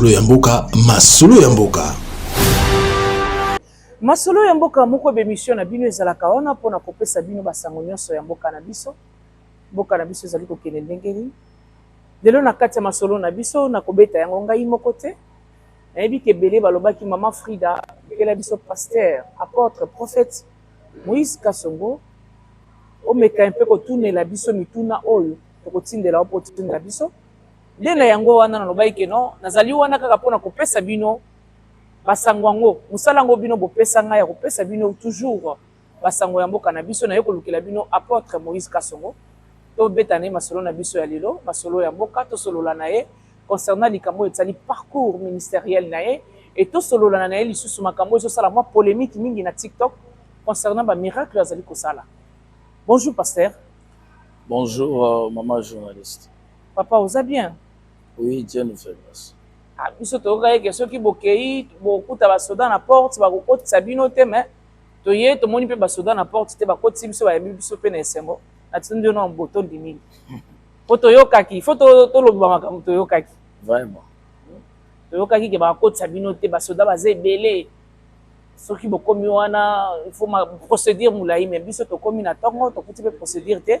masolo ya mboka masolo ya mboka masolo ya mboka moko bemission na bino ezalaka wana mpona kopesa bino basango nyonso ya mboka na biso mboka na biso ezali kokende ndenge nini lelo na kati ya masolo na biso nakobeta yango ngai moko te Nayebi ke ebele balobaki maman Frida lukela biso pasteur, apotre, prophète Moïse Kasongo omeka un peu kotunela biso mituna oyo tokotindela yo mpo otindela biso nde na yango wana nalobaki ke non nazali wana kaka mpo na kopesa bino basango yango mosala yango bino bopesa ngai ya kopesa bino toujours ba sango ya mboka na biso naye kolukela bino apotre Moïse Kasongo to beta naye masolo na biso ya lelo masolo ya mboka to solola naye concernant likambo etsali parcours ministeriel naye et to solola naye lisusu makambo ezo sala mwa polemique mingi na TikTok concernant ba miracle azali kosala bonjour pasteur bonjour euh, maman journaliste papa oza bien oui Dieu nous fait grâce ah, biso toyokaki ke soki bokei bokuta basoda na porte bakokotisa bino te mais Toye tomoni pe ba soda na porte te bakotisi biso bayambi biso pe na esengo na tondi yo na botondi mingi po toyokaki fo toloba makambo toyokaki vraiment toyokaki ke bakotisa bino te basoda baza ebele soki bokomi wana faut ma procédure molai mais biso tokomi na ntongo tokuti mpe procédure te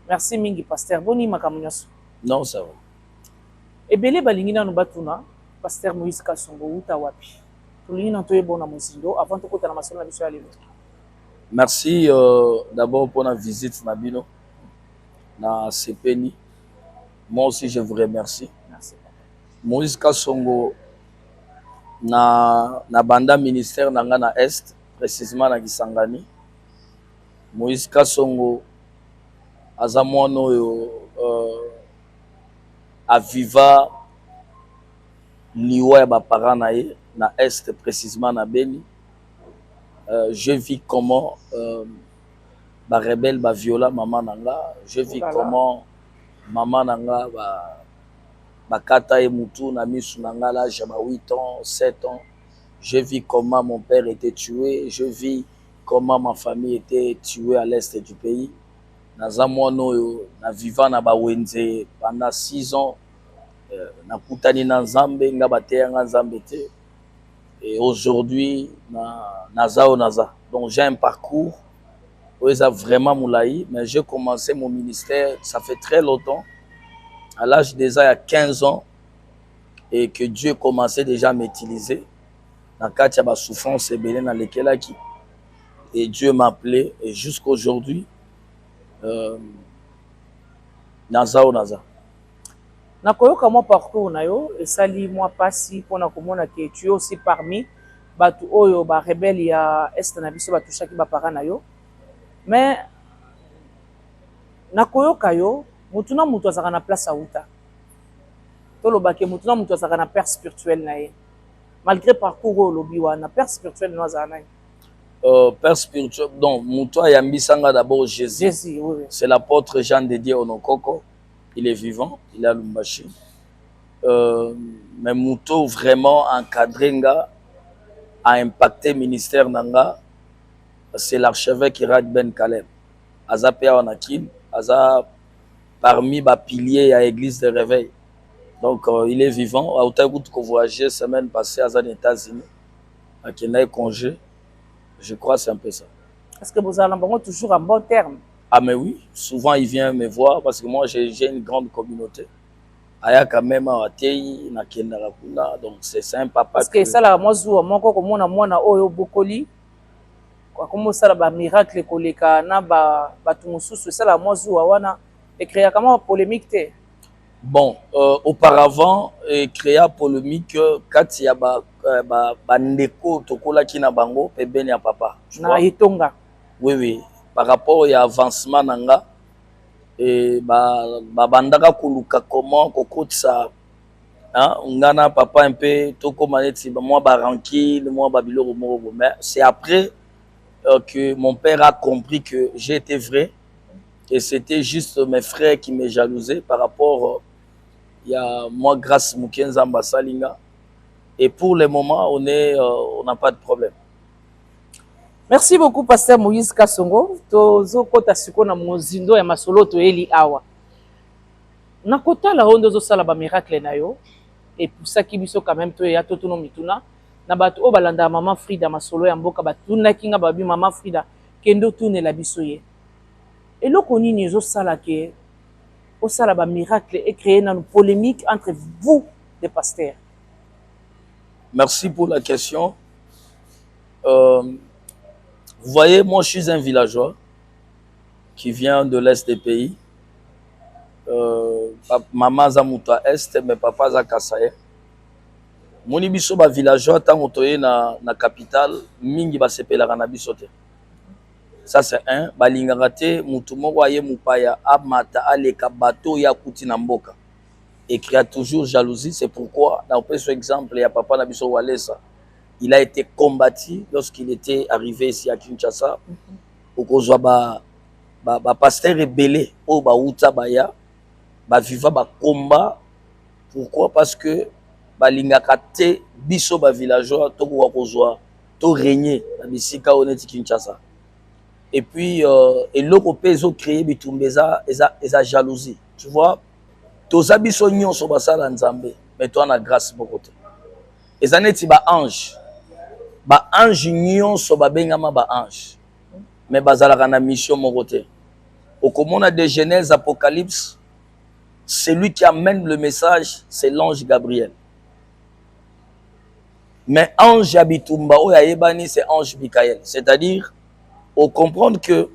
merci mingi paster boni makambo nyonso non ça va ebele balingi nano batuna paster moïse kasongo uta wapi Tolingi nanu toyeba yo na mozindo avant tokota na masolo na biso ya lelo. Merci euh, d'abord mpona visite na bino nasepeli moi aussi je vous remercie Merci. moïse kasongo na, na banda ministère na ngai na est précisement na kisangani moïse kasongo aza mwana oyo euh, aviva liwa ya ba parents na ye na Est precisement na Beni, je vis comment ba rebelles ba viola maman na nga, je vis comment maman na nga ba kata ye mutu na misu na nga à l'age ya ba huit ans, sept ans, je vis comment mon père etait tue, je vis comment ma famille etait tue à l'Est du pays, naza mwana oyo na viva na ba wenze pendant six ans. euh, nakutani na nzambe nga bateya nga nzambe te et aujourd'hui na naza oyo naza donc j'ai un parcours oyo eza vraiment molai mais j'ai commencé mon ministère ça fait très longtemps à l'âge déjà ya 15 ans et que dieu commençait déjà à m'utiliser na kati ya basouffrance ebele nalekelaki et dieu m'appelait et jusqu'aujourd'hui euh, naza oyo naza Nakoyoka mwa parcours na yo esali mwa pasi pona komona que tu es aussi parmi batu oyo ba rebelles ya Est na biso ba touchaki ba parents na yo mais nakoyoka yo mutu na mutu azalaka na place awuta toloba que mutu na mutu azalaka na père spirituel na ye malgre parcours oyo olobi wana père spirituel na yo azala nani? Euh, père spirituel donc mutu ayambisa nga d'abord Jésus, Jésus oui. c'est l'apôtre Jean de Dieu Onokoko il est vivant il est à lumbashi euh, mais moto vraiment encadré nga a impacté ministère na nga c'est l'archevêque Irad Ben Kaleb aza mpe awa na kin aza parmi bapilier ya église de réveil donc euh, il est vivant autaki kutu kovoyage semaine passée aza na états-unis akendaki congé je crois c'est un peu ça est ce que bozala na bango toujours en bon terme Ah mais oui, souvent il vient me voir parce que moi j'ai une grande communauté. ayaka meme awa teyi nakendaka kuna donc c'est un papa parce que esalaka mwa zuwa moko komona mwana oyo obokoli akomi osala bamiracle koleka na bato mosusu esalaka mwa zuwa wana ecreaka mwa polémique te bon euh, auparavant ecrea polémique euh, kati ya bandeko ba, ba tokolaki na bango pembeni ya papa na etonga Oui oui par rapport ya avancement na nga eh, babandaka ba koluka comment kokotisa nga na papa un peu tokoma neti mwa barankile mwa babiloko moko bo mais c'est après euh, que mon père a compris que j'ai été vrai et c'était juste mes frères qui me jalousait par rapport euh, ya mwa grâce moke nzambe asali nga et pour le moment on est euh, on n'a pas de problème Merci beaucoup pasteur Moïse Kasongo tozokota sikoyo na mozindo ya masolo toyeli awa na kotala oyo nde ozosala ba miracle na yo epusaki biso quand même toya totuno mituna na bato oyo balandaka mama Frida masolo ya mboka batunaki nga babi mama Frida kende otunela biso ye eloko nini ezosala ke osala ba miracle ecreye nanu polemique entre vous de pasteur Merci pour la question. Euh, vous voyez, moi je suis un villageois qui vient de l'est des pays. Euh, maman Zamuta Est, mais papa Zakasaye. moni biso bavillageois ntango toye na, na capitale mingi basepelaka na biso te ça c'est un balingaka te motu moko aye mopaya amata aleka bato oyo akuti na mboka et qui a toujours jalousie c'est pourquoi na opesa exemple ya papa na biso Walesa il a été combattu lorsqu'il était arrivé ici à Kinshasa mm -hmm. okozwa ba ba, ba pasteur ebele oyo bawuta baya baviva bakomba pourquoi parce que balingaka te biso bavillageois tokoka kozwa to regne na bisika oyo neti kinshasa et puis euh, eloko mpe ezocreye bitumba eza, eza, eza jalousie tu vois toza biso nyonso basala nzambe me toa na grace moko te eza neti ba ange ba ange nyonso babengama ba ange me bazalaka na mission moko te okomona de genèse apocalypse celui qui amène le message c'est l'ange gabriel mais ange ya bitumba oyo ayebani c'est ange michael c'est à dire ocomprendre que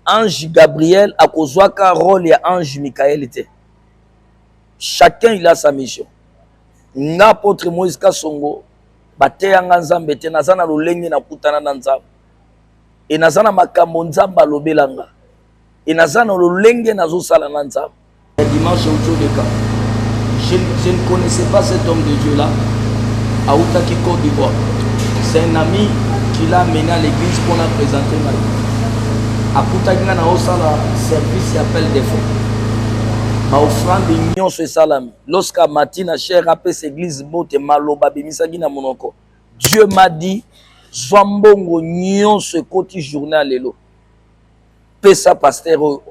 Ange Gabriel akozwaka role ya Ange Michael te. Chacun il a sa mission. Nga apotre Moïse Kasongo bateya nga Nzambe te naza na lolenge na kutana na Nzambe. Et naza na makambo Nzambe alobela nga. Et naza na lolenge nazosala na Nzambe. Dimanche Utsodeka, je, je ne connaissais pas cet homme de Dieu là, à Outaki Côte d'Ivoire. C'est un ami qui l'a amené à l'église pour la présenter ma vie. À Koutagna, na osala service et appel des fonds. Ma offrande union ce salami. Lorsqu'à matina cher après cette église bote maloba bimisagi na monoko. Dieu m'a dit, Zwa mbongo nyonso ekoti journal lelo. pesa pasteur oyo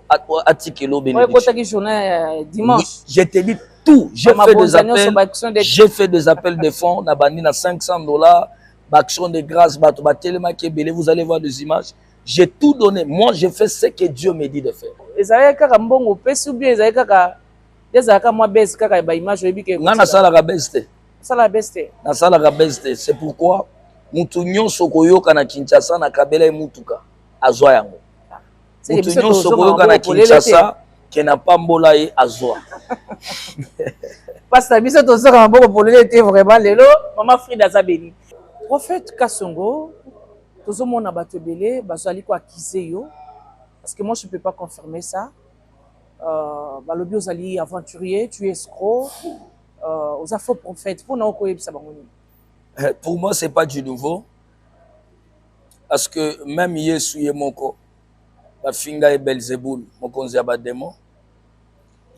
atikela oyo benedictokotaki journal ya dimanche je te dis tout j'ai fait des appels j'ai fait des appels de fonds na bandi na 500 dollars baaction de grâce bato batelemaki ebele vous allez voir des images j'ai tout donné moi je fais ce que dieu me dit de faire ezalaki kaka mbongo opesi ou bien ezalaki kaka ezalaka mwa base kaka ya baimage oyebi ke ngai nasalaka base te nasalaka base te nasalaka base te c'est pourquoi motu nyonso koyoka na kinshasa na kabela ye motuka azwa yango moto nyonso koyoka na kinshasa ke na pambola ye azwa pasta biso tozoka maboko polele te vraiment lelo mama frida aza beni prophète kasongo tozomona bato ebele bazali koakize yo parce que moi je peux pas confirmer ça euh, balobi ozali aventurier tu escro euh, oza faux prophète mpo na okoyebisa bango nini eh, pour moi c'est pas du nouveau parce que meme yesu ye moko bafinga ye belzebul mokonzi ya bademo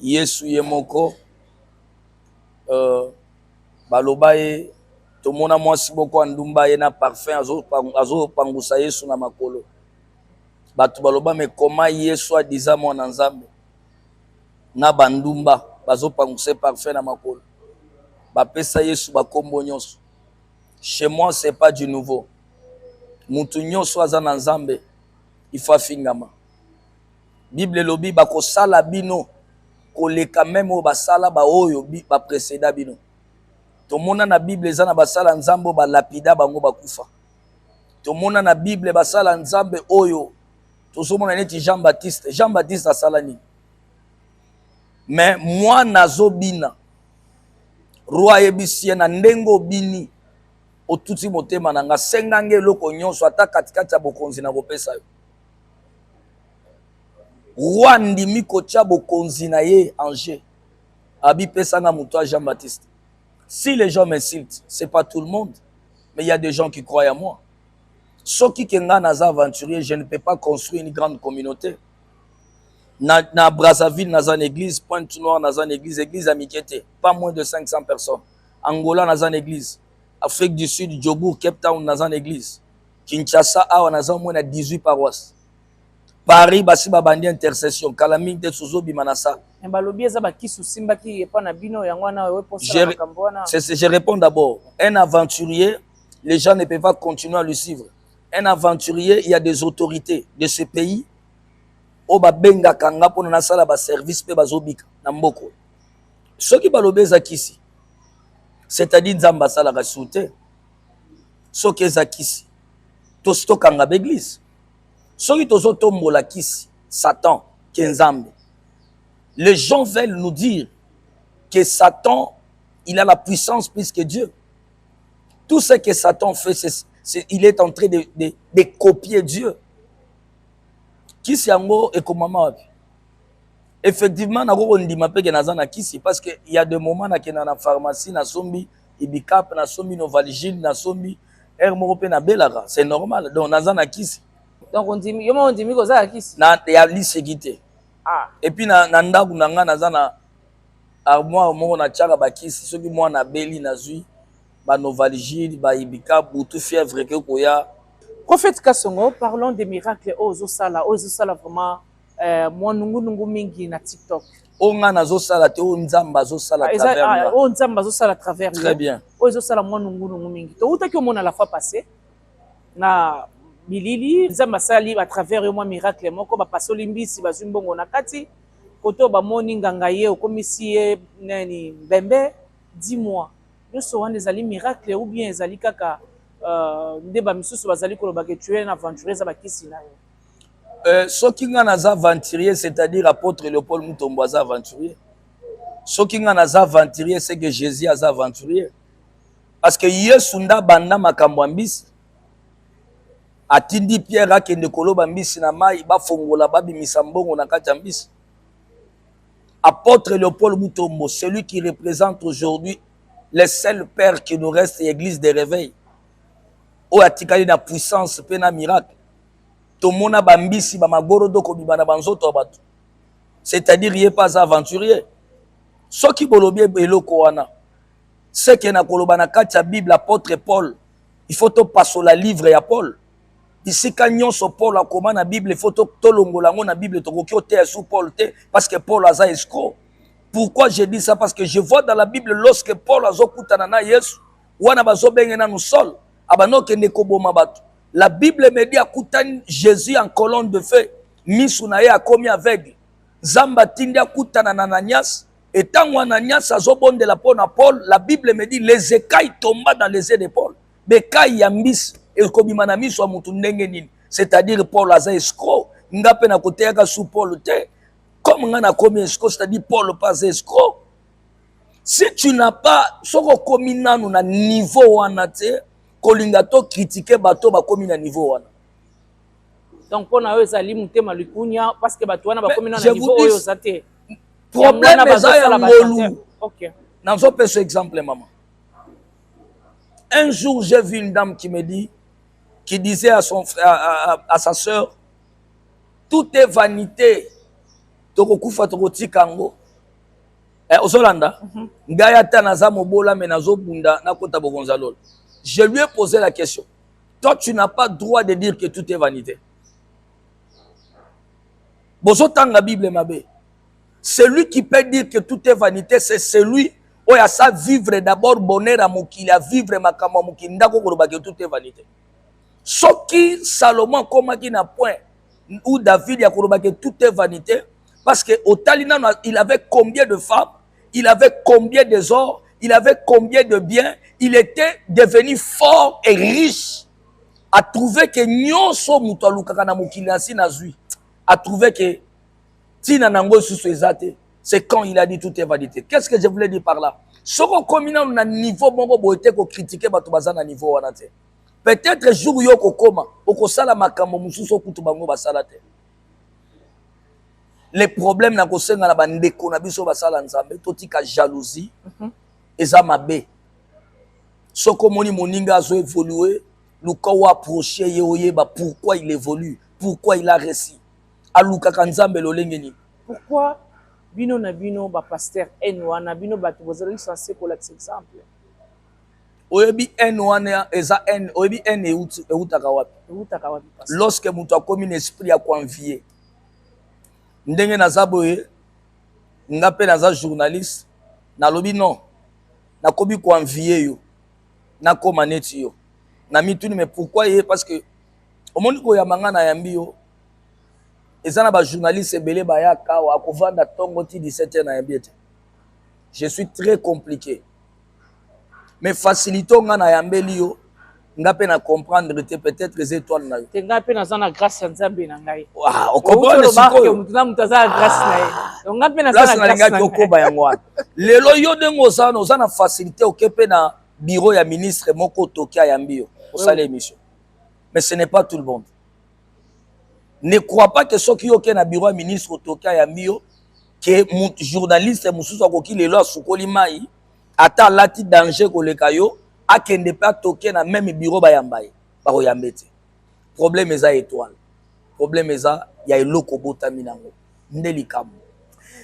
yesu ye moko euh, baloba ye tomona mwasi moko andumba ye na parfum azopangusa azo yesu na makolo bato baloba me koma yesu adiza mwana nzambe na bandumba bazopangusa ye parfum na makolo bapesa yesu bakombo nyonso chez moi c'est pas du nouveau mutu nioso aza na nzambe il faut afingama bible elobi bakosala bino koleka meme oyo basala baoyo bapreceda bino tomona na bible eza na basala nzambe oyo balapida bango bakufa tomona na bible basala nzambe oyo tozomona neti jean baptiste jean baptiste asala nini me mwana azobina Roi ayebisi ye na ndenge obini otuti motema na nga, senga nge eloko nyonso, ata katikati ya bokonzi na kopesa yo. Roi andimi kotya bokonzi na ye en jeu, abipesa nga moto ya Jean-Baptiste. Si les gens m'insultent, c'est pas tout le monde, mais il y a des gens qui croient à moi. Soki ke nga naza aventurier, je ne peux pas construire une grande communauté. na, na Brazzaville naza na église Pointe Noire naza na église église ya mike te pas moins de 500 personnes Angola naza na église Afrique du Sud Jobourg Cape Town naza na église Kinshasa awa naza au moins na 18 paroisses Paris basi babandi intercession kala mingi te tozobima na sala mais balobi eza bakisi osimbaki epa na bino yango wana oyo eposala makambo wana je réponds d'abord un aventurier les gens ne peuvent pas continuer à le suivre un aventurier il y a des autorités de ce pays oyo babengaka nga mpona nasala baservice mpe bazobika na mboko soki balobi eza kisi c'est-à-dire nzambe asalaka su te soki eza kisi tosi tokanga baeglise soki tozotombola kisi satan ke nzambe les gens veulent nous dire que satan il a la puissance plus que dieu tout ce que satan fait c'est, c'est, il est en train de, de, de copier dieu kisi yango ekomama wapi effectivement nako kondima mpe ke naza na kisi parce que ya de moment nakenda na pharmacie nasombi ibicap nasombi novaligile nasombi heure moko mpe nabelaka c'est normal donc naza na kisi donc ondimi yo moko ondimi koza ya kisi na ya liseki te ah. epuis na, na ndako na ngai naza na armoire moko natiaka bakisi soki mwana abeli nazwi ba novalgie ba ibika butu fièvre eke koya Prophète Kasongo, parlons des miracles oyo ozosala, oyo ezosala vraiment euh, mwa nungu nungu mingi na TikTok. oyo ngai nazosala te oyo nzambe azosala Ah, eza- travers ah, nga. oyo Nzambe azosala à travers yo. Très bien. Oyo ezosala mwa nungu nungu mingi. Towutaki omona la fois passée na bilili Nzambe asali à travers yo mwa miracle moko bapasoli mbisi bazwi mbongo na kati koto bamoni nganga ye okomisi ye nani mbembe dis-moi Nionso wana ezali miracle ou bien ezali kaka euh, nde ba misusu bazali koloba que tu es un aventurier eza ba kisi na yo? Euh, soki nga naza aventurier c'est-à-dire apôtre Léopold Mutombo aza aventurier. Soki nga naza aventurier c'est que Jésus aza aventurier. Parce que Yesu nda banda makambo ya mbisi atindi Pierre akende koloba mbisi na mai bafongola babimisa mbongo na kati ya mbisi. Apotre Leopold Mutombo, celui qui represente aujourd'hui le seul père qui nous reste ya eglise de reveil, oyo atikali na puissance pe na miracle. Tomona ba mbisi, ba magorodo kobima na ba nzoto ya batu. C'est-à-dire ye pe aza aventurier. Soki bolobi eloko wana, ce que nakoloba na kati ya bible apotre Paul, il faut topasola livre ya Paul. bisika nyonso paul akoma na bible fo tolongola yango na bible tokoki oteya su paul te parce que paul aza escro pourquoi je dis ça parce que je vois dans la bible lorsque paul azokutana na yesu wana bazobenge nanu sol abanda okende koboma bato la bible me dit akutani jésus en colonne de feu misu na ye akomi aveugle nzambe atindi akutana na ananias etango ananias azobondela mpo na paul la bible me dit les ecailles tomba dans les yeux de paul bekai ya mbisi ekobima na miso ya motu ndenge nini c'est-à-dire paul aza escro nga mpe nakoteyaka su paul te comme nga nakomi escro c'est-à-dire paul mpe aza escro si tu n'as pas soki okomi nanu na niveau wana te kolinga to kritike bato bakomi na niveau wana donc mpo na yo ezali motema likunia parce que bato wana bakomi na niveau oyo oza te problème eza ya ngolu nazopesa exemple mama Un jour, j'ai vu une dame qui me dit, qui disait à, son, à, à, à sa sœur, tout est vanité. tokokufa tokotika yango eh, ozolanda mm -hmm. ngai ata naza mobola me nazobunda nakota bokonza lola je lui ai posé la question toi tu n'as pas droit de dire que tout est vanité bozotanga bible mabe Celui qui peut dire que tout est vanité, c'est celui oyo asa vivre d'abord bonheur ya mokili, a vivre makambo ya mokili, ndako koloba que tout est vanité. Soki Salomon akomaki na point ou David ya koloba que tout est vanité, parce que otali nano, il avait combien de femmes, il avait combien des ors, il avait combien de biens, il était devenu fort et riche. A trouvé que nyonso moto alukaka na mokili na si nazui. A trouvé que ntina na yango lisusu eza te c'est quand il a dit tout est validité qu'est ce que je voulais dire par là soki okomi nano na niveau moko boye te kokritike bato baza na niveau wana te peut-être jour yo okokoma okosala makambo mosusu okutu bango basala te le problème na kosenga na bandeko na biso basala nzambe totika jalousie mm -hmm. eza mabe soki omoni moninga azo evolue luka oapproche ye oyeba pourquoi il évolue pourquoi il a réussi alukaka nzambe lolenge nini pourquoi bino na bino ba pasteur haine wana bino bato bozalaki sense kolakisa exemple oyebi haine wana eza haine oyebi haine ewutaka wapi ewutaka wapi lorsque moto akomi na esprit ya koenvie ndenge naza boye nga mpe naza journaliste nalobi non nakomi koenvie yo nakoma neti yo na mituni mais pourquoi ye parce que omoni koyamba ngai nayambi yo eza na bajournaliste ebele bayaka awa akovanda ntongo ti 17 heure nayambi ete je suis très compliqué mais facilité ngai nayambeli yo nga pe na comprendre te peut-être eza étoile na yo te nga pe naza na grâce ya nzambe na ngai ah, okomprendre sikoyo moto na moto aza na grâce na ye ah. donc nga pe naza na nalingaki okoba yango wana lelo yo ndenge oza wana oza na facilité oke pe na bureau ya ministre moko toki ayambi yo osala émission mais ce n'est pas tout le monde ne crois pas que soki yo oke na bureau ya ministre otoki ayambi yo ke journaliste mosusu akoki lelo asukoli mai ata alati danger koleka yo akende mpe atoke na meme bureau bayamba ye bakoyambe te problème eza étoile problème eza ya eloko obotami nango nde likambo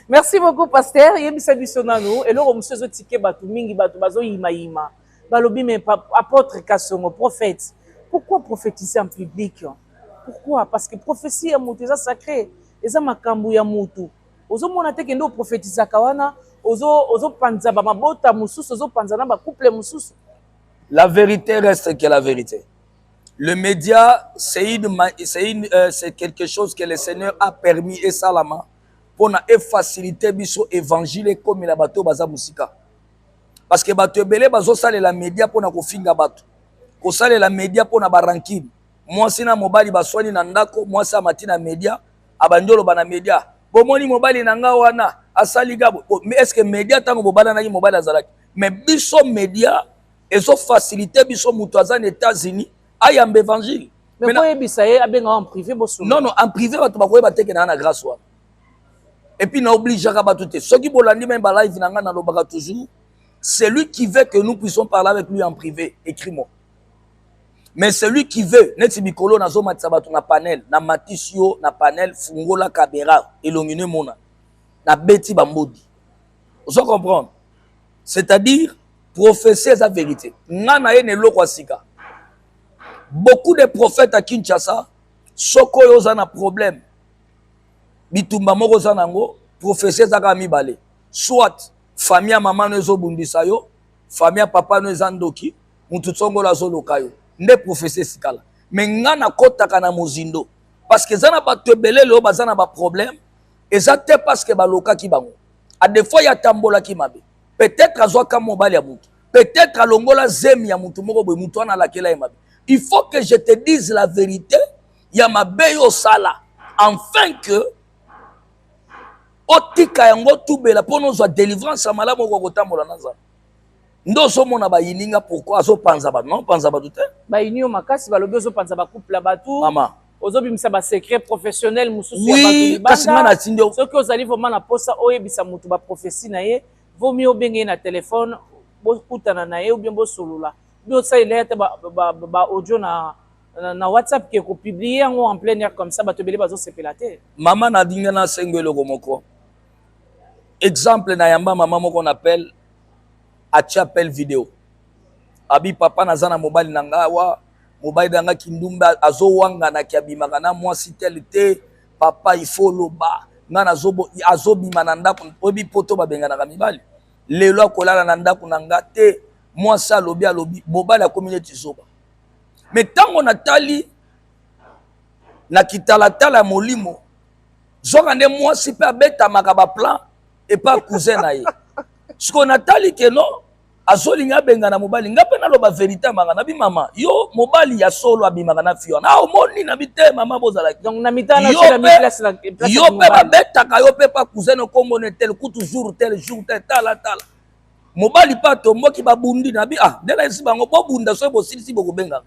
merci beaucoup pasteur yebisa biso nanu eloko mosusu ezotike bato mingi bato bazoyimayima balobi me apotre kasongo prophète pourquoi prophétiser en public pourquoi parce que prophétie ya moto eza sacré eza makambo ya moto ozomona te kende oprofetisaka wana ozopanza ozo bamabota mosusu ozopanza na bacouple mosusu la vérité reste que la vérité le média c'est une, c'est une, euh, c'est quelque chose que le seigneur a permis esalama mpona efacilite biso évangile ekomela bato baza mosika parce que bato ebele bazosalela media mpo na kofinga bato kosalela media mpo na barankine mwasi na mobali baswani na ndako mwasi amati na media abandi oloba na media bomoni mobali na nga wana asali ga estce media ntango bobalanaki mobali azalaki mais biso media ezofasilite biso moto aza na états-unis ayamba évangile mais koyebisa ye abenga en privé bosono non non en privé bato bakoyeba teke na na grâce wana epuis na obligeaka bato te soki bolandi mai balive na ngai nalobaka toujours celui qui veut que nous puissions parler avec lui en privé écrit moi mais celui qui veut neti mikolo nazomatisa bato na panel na matisi yo na panel fungola kabera elongi no emona nabeti bambodi ozo comprendre c'est-à-dire prophétie eza vérité nga na ye na eloko ya sika beaucoup de prophètes à kinshasa soko oyo oza na problème bitumba moko oza na yango profesi eza kaka mibale soit famille ya mama no ezobundisa yo famille ya papa no eza ndoki motu tsongolo azoloka yo nde profesi esikala me ngai nakotaka na mozindo parceke eza na bato ebele leo baza na baproblème eza te parceke balokaki bango adefois ye atambolaki mabe peut-être azwaka mobali ya motu peut-être alongola zemi ya motu moko boye motu wana alakela ye mabe il faut que je te dise la vérité ya mabe yo osala enfin que otika yango tubela mpo nozwa délivrance ya malamu okoka kotambola na nzambe nde ozomona bayininga pourkui azopanza bato na opanza bato te bayini yo makasi balobi ozopanza bacouple ya bato mama ozobimisa basecret professionnel mosusu ya bato soki ozali vraimen na mposa oyebisa moto baprofesi na ye vomi obenge ye na telefone bokutana na ye obien bosolola bi osalela ye ata baaudio na na, na whatsapp ke kopublie yango en plein air comme ça bato ebele bazosepela te mama nadinga na sengo eloko moko exemple na yamba mama moko na appel atia appel video abi papa naza na mobali na nga awa mobali na nga kindumba azowanganaki abimaka na mwasi tele te papa ifo oloba nga azobima na ndako oyebi poto babenganaka mibali lelo akolala na ndako na nga te mwasi alobi alobi mobali akomi neti zoba me ntango natali na kitalatala ya molimo zoka nde mwasi mpe abetamaka baplan epa cousin na ye sikoyo natali keno azolinga abengana mobali ngai mpe naloba verité manga nabi mama yo mobali ya solo abimaka na fi wana omoni nabi te mama bozalaki yo mpe babetaka yo mpe pa cousin okomona tel kutu jour tel jour tel tala tala mobali mpe atomboki babundi na bi ah ndela esi bango bobunda soki bosilisi bokobengaka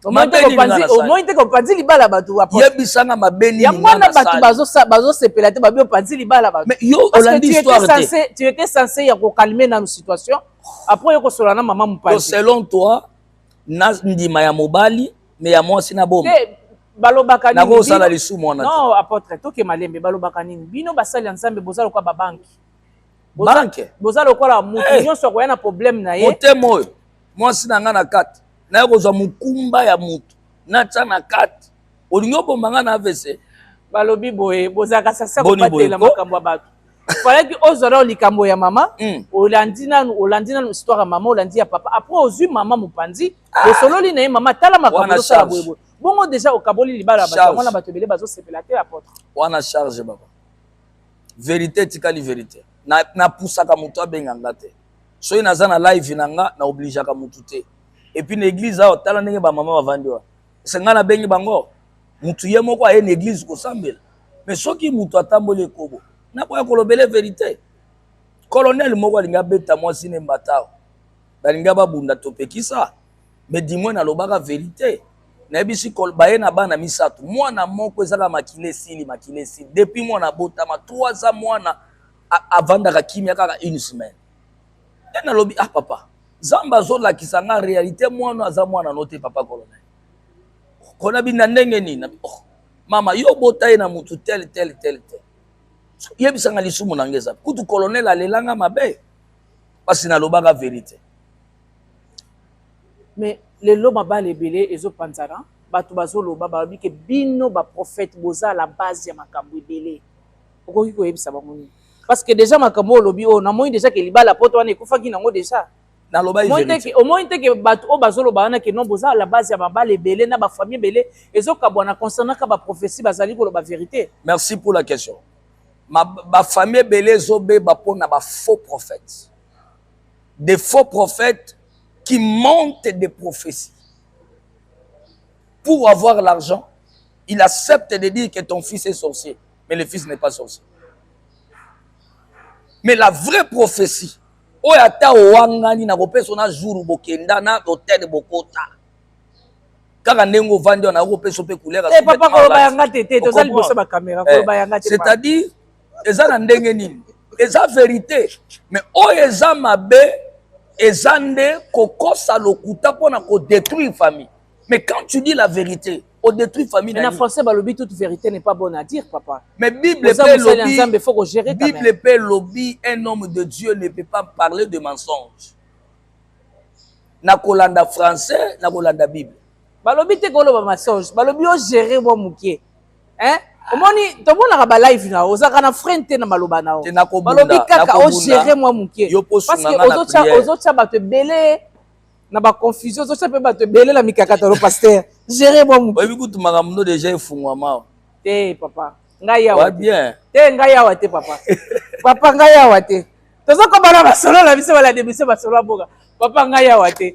omoni te opanzi libala bato yebisanga mabe nini yango wana bato bazosepela te babi opanzi libala bato yo olandi histoire te tu étais censé ya kokalme nanu situation après yo kosolola na mama mopanzi selon toi na ndima ya mobali me ya mwasi na boma balobaka nini nakosala lisumu wana non apôtre toke malembe balobaka nini bino basali ya nzambe boza lokola babanki banke boza lokola moto eh. nyonso akoya na problème na ye motema oyo mwasi na ngai na kati naye kozwa mokumba ya moto natya na kati olingi obomba ngai na avc balobi boye bozalaka sasa kobatela makambo ya bato falaki ozwa nao likambo ya mama hmm. olandi nanu olandi nanu histoire ya mama olandi ya papa apres ozwi mama mopanzi ah. osololi na ye mama tala makambo osala boyeboye bongo deja okaboli libala ya bato yango na bato ebele bazosepela te apotre wana charge baba verite etikali verite na na pusaka mutu abenga nga te soki naza na live na nga na obligeaka mutu te et puis na église awa tala ndenge ba mama bavandi wana se nga nabengi bango mutu ye moko aye na église kosambela mais soki mutu atamboli ekobo nakoya kolobele verite colonel moko alingi abeta mwasi ne mbatao balingi babunda topekisa mais du moins nalobaka verite nayebisi baye na bana misato mwana moko ezaka makila esili makila esili depuis mwana abotama 3 ans mwana avandaka kimia kaka une semaine nde nalobi ah papa nzambe azolakisa nga realite mwana aza mwana no te papa colonel kona bina ndenge nini oh, mama yo obota ye na motu tel tel tel tel yebisanga lisumu na nga eza kutu colonel alelanga mabe mpasi nalobaka verite mais lelo mabala ebele ezo panzana bato bazoloba balobi ke bino ba prophète boza la base ya makambo ebele okoki koyebisa bango nini parce que déjà makambo olobi oyo namoni déjà ke libala poto wana ekufaki nango déjà omoni te ke bato oyo bazoloba wana ke non boza la base ya mabala ebele na ba famille ebele ezokabwana concernaka ba prophetie bazali koloba verité merci pour la question ba famille ebele ezobeba mpona ba faux prophète des faux prophètes qui montent des prophéties. Pour avoir l'argent, il accepte de dire que ton fils est sorcier, mais le fils n'est pas sorcier. Mais la vraie prophétie, oyo ata owangani nakopesa na jour bokenda na hotel bokota kaka ndenge ovandi wana nakopesa mpe couleur eh, c'est-à-dire eza na ndenge nini eza verite me oyo eza mabe eza nde kokosa lokuta mpo na kodétruire famille mais quand tu dis la vérité odétruire famille na français balobi toute vérité n'est pas bonne à dire papa mais bible mpe lobi faut ko gérer bible mpe lobi un homme de dieu ne peut pas parler de mensonge na kolanda français na kolanda bible balobi te koloba mensonge balobi ogere mwa moke eh omoni tomonaka ba live na yo ozalaka na frein te na maloba na yo balobi kaka ogere mwa moke parceke ozotya bato ebele na baconfusion ozotya mpe bato ebele na mikakatano paster gere mwa moke oyebi kutu makambo no deja efungwama te papa ngai yawa bien te ngai yawa te papa papa ngai yawa te toza kobana basolo na biso balade biso basolo ya boka papa ngai yawa te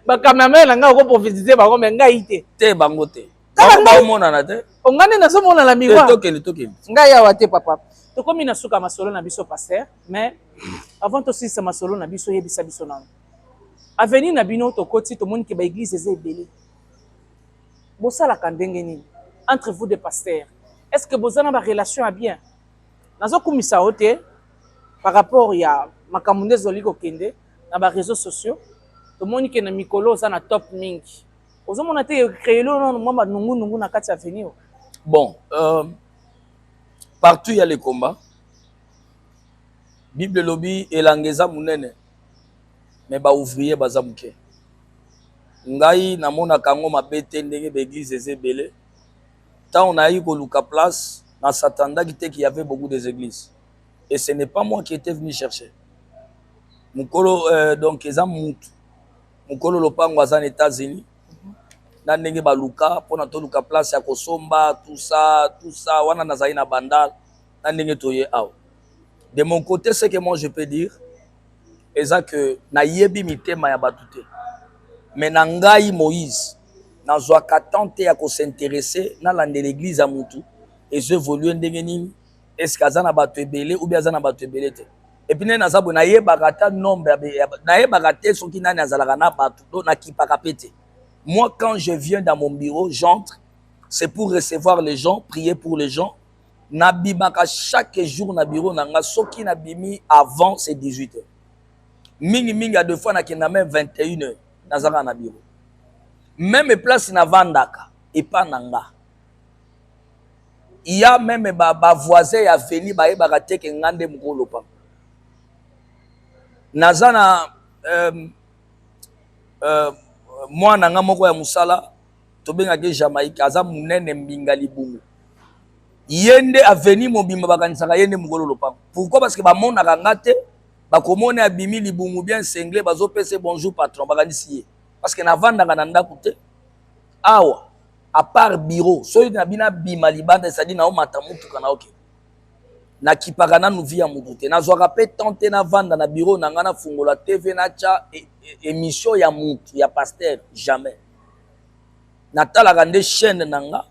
ba cameraman na ngai oko prophétiser bango mais ngai te te bango te kaka ngai omonana te ongane nazo monana miwa tokende tokende ngai awa te papa tokomi na suka masolo na biso pasteur mais avant tosilisa masolo na biso yebisa biso nano avenir na bino tokoti tomoni ke baeglise eza ebele bosalaka ndenge nini entre vous de pasteur est ce que boza na barelation ya bien nazokumisa yo te par rapport ya makambo nde ezali kokende na ba réseaux sociaux tomoni ke na mikolo oza na top mingi ozomona te créele oyo nano mwa banungunungu na kati ya avenir bon euh, partout ya le combat bible elobi elanga eza monene me baouvrier baza moke ngai namonaka yango mabe te ndenge baeglize eza ebele ntango nayaki koluka place na satandaki te ki yave beaucoup des églises et ce n'est pas moi qui était venu chercher mukolo euh, donc eza mutu mukolo lopango aza na États-Unis mhm. na ndenge baluka mpona toluka place ya kosomba tout ça tout ça wana nazali na bandal na ndenge toye awa de mon côté ce que moi je peux dire eza que nayebi mitema ya bato te mais na ngai moïse nazwaka temps te ya kosinteresse nalanda l'église ya mutu ezo évolue ndenge nini eske aza na bato ebele ou bien aza na bato ebele te epuis nde naza boye nayebaka ata nombre nayebaka te soki nani azalaka na bato to nakipaka mpe te moi quand je viens dans mon bureau j'entre c'est pour recevoir les gens prier pour les gens nabimaka chaque jour na bureau na nga soki nabimi avant c'est 18 heures mingi mingi ya deux fois nakenda meme 21 heures nazaka na bureau meme place navandaka epa na nga il ya meme ba, ba voisin ya veni bayebaka te ke nga nde mokolo lopanga naza na euh, euh, mwana nga moko ya mosala tobengaki jamaïque aza monene mbinga libungu ye nde aveni mobimba bakanisaka ye nde mokolo lopango pourquoi parce que bamonaka nga te bakomona abimi libungu bien sengle bazopesa bonjour patron bakanisi ye parce que navandaka na ndako te awa à part bureau soki na bino abima libanda ezali na omata motuka na oke nakipaka nanu vi ya motu te nazwaka mpe temps te navanda na bureau na ngai nafungola tv natya e, e, émission ya motu ya pasteur jamais natalaka nde chaîne na nga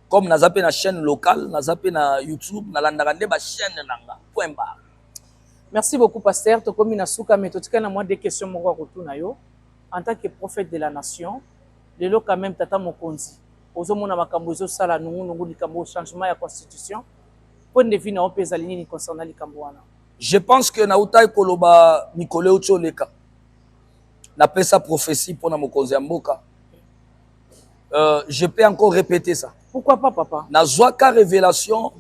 comme naza mpe na chaîne locale naza mpe na youtube nalandaka nde bachaîne na nga point barre merci beaucoup pasteur tokomi na suka me totikali na mwa de question moko ya kotuna yo en tant que prophète de la nation Lelo quand meme tata mokonzi ozo mona makambo ezo sala nungu nungu likambo oyo changement ya constitution point de vue na yo pe ezali nini concernant likambo wana? Je pense que na utaki koloba mikolo euti oleka na pesa prophetie pona mokonzi ya mboka euh, je peux encore répéter ça. Pourquoi pas papa? Na zwa ka révélation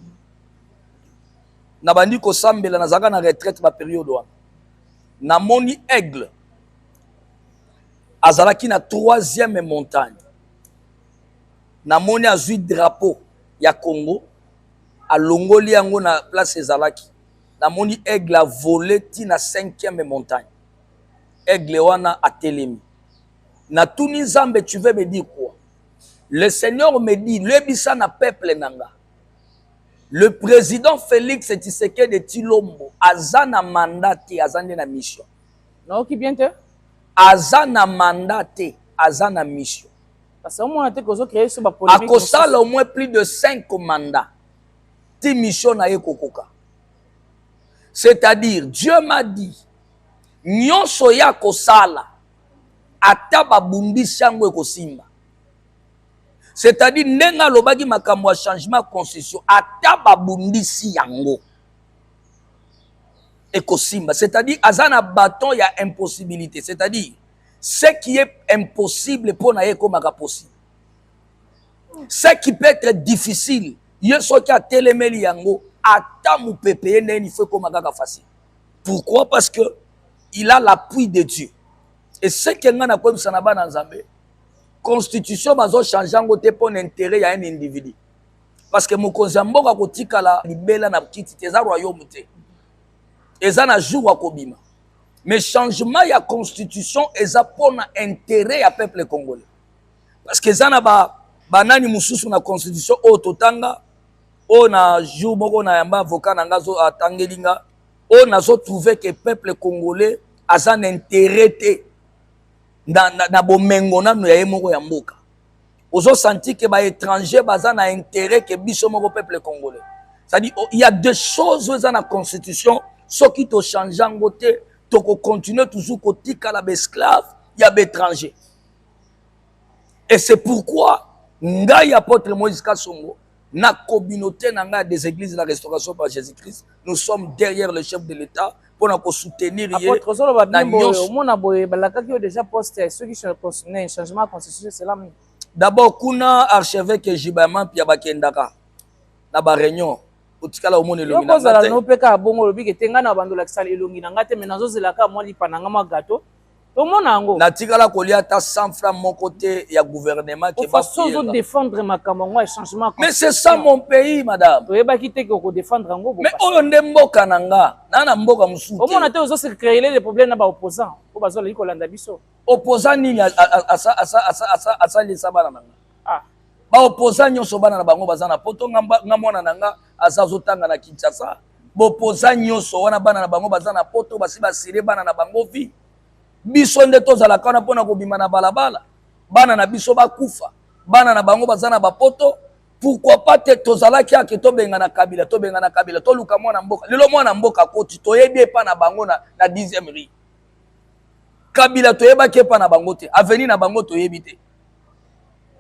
na bandi kosambela nazalaka na retraite ba periode wana namoni aigle Azalaki na troisième montagne. Namoni azui drapeau ya Congo alongoli yango na place ezalaki. Namoni aigle a vole ti na cinquième montagne. Aigle wana atelemi. Natuni Nzambe tu veux me dire quoi? Le Seigneur me dit lebisa na peuple nanga. Le président Félix Tshisekedi Tshilombo aza na mandat te, aza nde na mission. Nayoki bien te. Aza na mandat te, aza na mission. Parce que omona te kozo créer sur ba polemique. Akosala au moins plus de 5 mandats. Ti mission na ye kokoka. C'est-à-dire Dieu m'a dit nyonso ya kosala ata babundisi yango ekosimba c'est-à-dire ndenge alobaki makambo ya changement ya constitution ata babundisi yango ekosimba c'est-à-dire aza na baton ya impossibilité c'est-à-dire ce qui est impossible mpo na ye ekomaka possible ce qui peut être difficile ye soki atelemeli yango ata mopepe ye ndenge nifo ekoma kaka facile pourquoi parce que il a l'appui de dieu eseke ngai nakoyebisa na bana nzambe constitution bazochange yango te mpo na intérêt ya un individu parce que mokonzi ya mboka akotikala libela na kiti te eza royaume te eza na jour akobima mais changement ya constitution eza mpona intérêt ya peuple congolais parce que eza na ba banani mosusu na constitution oyo totanga oyo na jour moko na yamba avocat na nga atangeli nga oyo nazo trouve ke peuple congolais aza na intérêt te na, na, na bomengo nano ya ye moko ya mboka ozo sentir que ba étrangers baza na intérêt que biso moko peuple congolais c'est-à-dire oh, il y a des choses oyo eza na constitution soki tochange yango te tokocontinue toujours kotikala baesclave ya baétranger et c'est pourquoi ngai apôtre moïse kasongo Na communaute na ngai des églises la restauration par Jésus-Christ, nous sommes derrière le chef de l'État pour na ko soutenir ye. Apotre ozolo ba bimbo yo mona boye balakaki yo déjà poste ceux qui sont concernés changement constitution c'est là. D'abord kuna archevêque Jibama pia bakendaka na ba réunion otikala omona elongi na ozala no peka bongo lobi ke tenga na bando lakisa elongi na ngate mais nazo zelaka mwa lipa na ngama gato omona yango natikala kolia ata 100 franc moko te ya gouvernement ke façon ozo défendre makambo yango ya changement mais c'est ça mon pays madame toyebaki te ke okodéfendre yango mais oyo nde mboka na nga na na mboka mosusu te omona te ozo se créer les problèmes na ba opposants oyo bazalaki kolanda biso opposant nini asalisa bana na nga ah. baopposant nyonso bana na bango baza na poto nga mwana na nga aza azotanga na kinshasa bopoza nyonso wana bana na bango baza na poto basi basire bana na bango vi biso nde tozalaka wana mpo na kobima na balabala bana na biso bakufa bana na bango baza na bapoto pourquoi pas te tozalaki ake tobengana kabila tobengana kabila toluka mwana mboka lelo mwana mboka koti toyebi epa na bango na, na 10 rue kabila toyebaki epa na bango te aveni na bango toyebi te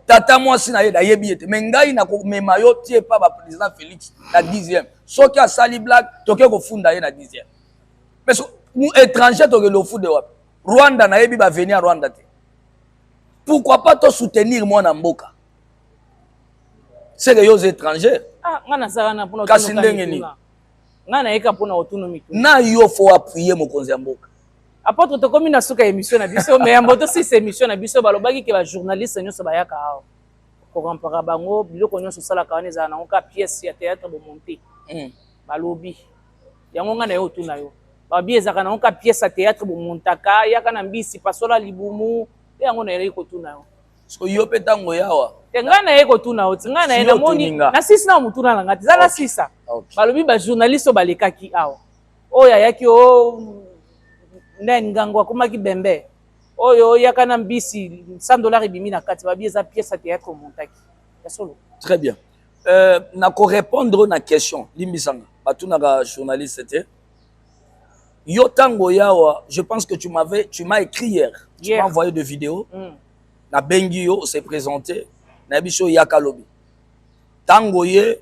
tata mwasi na ye nayebi ye te me ngai nakomema yo ti epa baprésident félix na 10e soki asali blague toke kofunda ye na 10e mais so, étranger tokende ofunde wapi rwanda nayebi baveni ya rwanda te pourquoi pas tosoutenir mwana mboka seke yo oza étranger ah, kasi ndenge nini na yo fo appuye mokonzi ya mboka Apotre tokomi na suka emission na biso mais yambo to sisa emission na biso balobaki ke ba journaliste nyonso bayaka awa kokampaka bango biloko nyonso osalaka wana ezala nango kaka pièce ya théâtre bomonte mm. balobi yango ngai na yo otuna yo babi ezalaka nango kaka pièce ya théâtre bomontaka yaka na mbisi pasola libumu te yango nayelaki kotuna yo so yo mpe ntango yawa te ngai naye kotuna yo ti ngai naye namoni na sisi na motuna na ngai te eza na sisa balobi bajournaliste oyo balekaki awa oyo ayaki o nen ngango akomaki bembe oyo oyaka na mbisi 100 dollars ebimi na kati babi eza pièce ya théâtre omontaki ya solo très bien euh, na korépondre na question limbisanga batunaka journaliste te yo ntango oyawa je pense que tu m'avais tu m'as écrit hier tu yeah. m'as envoyé de vidéo mm. nabengi yo ose présente nayebi so oyaka lobi Tango oye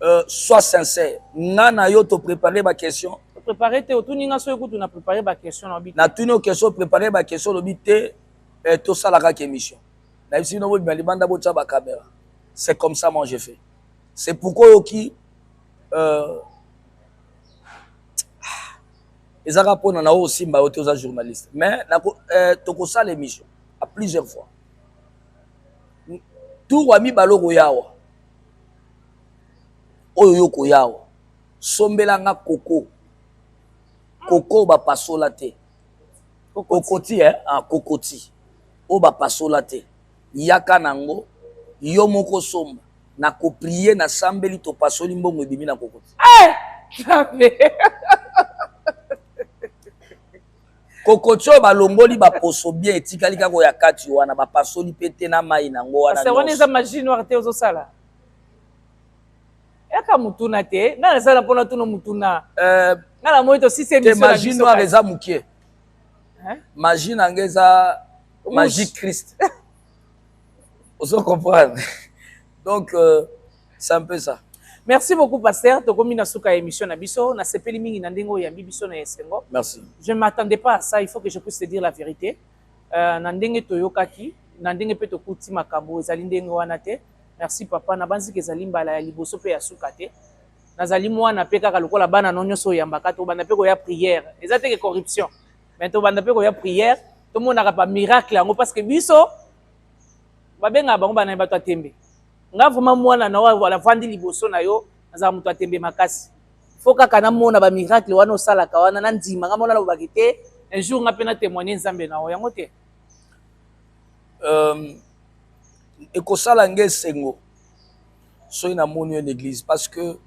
euh, soit sincère. Nga na yo to préparer ba questions. To préparer te otuni nga soki kutu na préparer ba questions na bite. Na tuni o question préparer ba questions lo bite euh, to sala ka émission. Na bisi no bo bima libanda bo tsa ba caméra. C'est comme ça moi je fais. C'est pourquoi yo ki euh ezaka pona na o simba yo te oza journaliste. Mais na ko euh, to ko sala émission à plusieurs fois. Tour ya mibale okoyawa oyo yo koyawa sombela nga koko koko bapasola te kokoti eh? ah, kokoti oyo bapasola te yaka na yango yo moko somba na koprie na sambeli topasoli mbongo ebimi na kokoti eh! kokotio balongoli baposo bien etikali kaka ya kati wana bapasoli mpe te na mai nango wana wana eza magie noire te ozosala yaka motuna te ngai nasala mpona tuna motuna eh, ngai namoni tosisete magie noire eza mokie magie na ngai eza magie christ ozo comprendre donc euh, C'est un peu ça. Merci beaucoup pasteur, tokomi na suka ya émission na biso, na sepeli mingi na ndenge oyambi biso na esengo. Merci. Je ne m'attendais pas à ça, il faut que je puisse te dire la vérité. Euh, na ndenge toyokaki, na ndenge pe tokuti makambo ezali ndenge wana te. Merci papa, na banzi kezali mbala ya liboso pe ya suka te. Nazali mwana pe kaka lokola bana no nyoso oyambaka to banda pe ko ya prière. Eza te que corruption. Mais to banda pe ko ya prière, to monaka pa miracle yango parce que biso babenga bango bana bato ya tembe. nga vraiment mwana na oyo avandi liboso na yo nazala moto ya tembe makasi fo kaka namona ba miracle wana osalaka wana na ndima nga mona nalobaki te un jour nga mpe na témoigne nzambe na yo yango te euh, ekosala nga esengo soki namoni yo na église parce que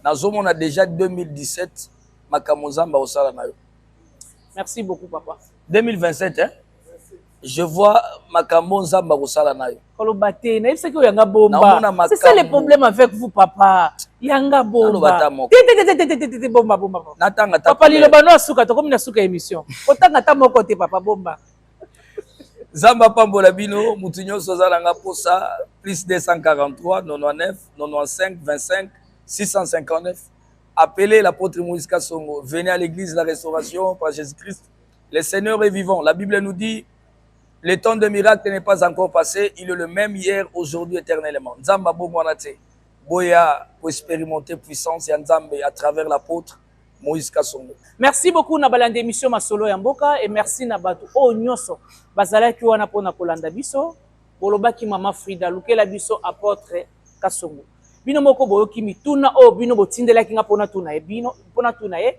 nazomona déjà 2017 makambo nzambe akosala na yo merci beaucoup papa 2027 hein? je vois makambo nzambe akosala na yo koloba te nayebisaki oyo yanga bomba c'est ça le problème avec vous papa yanga bomba tetetetetetete bomba bomba natanga papa liloba no asuka tokomi na suka émission kotanga ata moko te papa bomba nzambe apambola bino motu nyonso aza nanga mposa plus 243 99 95 25 659 appelez l'apôtre moïse kasongo venez à l'église la restauration par jésus christ Le Seigneur est vivant. La Bible nous dit, le temps de miracle n'est pas encore passé. Il est le même hier, aujourd'hui, éternellement. Nzamba Bongwanate, Boya, pour expérimenter puissance et Nzambe à travers l'apôtre Moïse Kassongo. Merci beaucoup na balanda émission Masolo ya Mboka et merci na batu oh nyoso. Bazalaki wana pona kolanda biso. Bolobaki mama Frida, lukela biso apôtre Kassongo. Bino moko boyoki mituna oyo bino botindelaki nga pona tuna ye bino, pona tuna ye.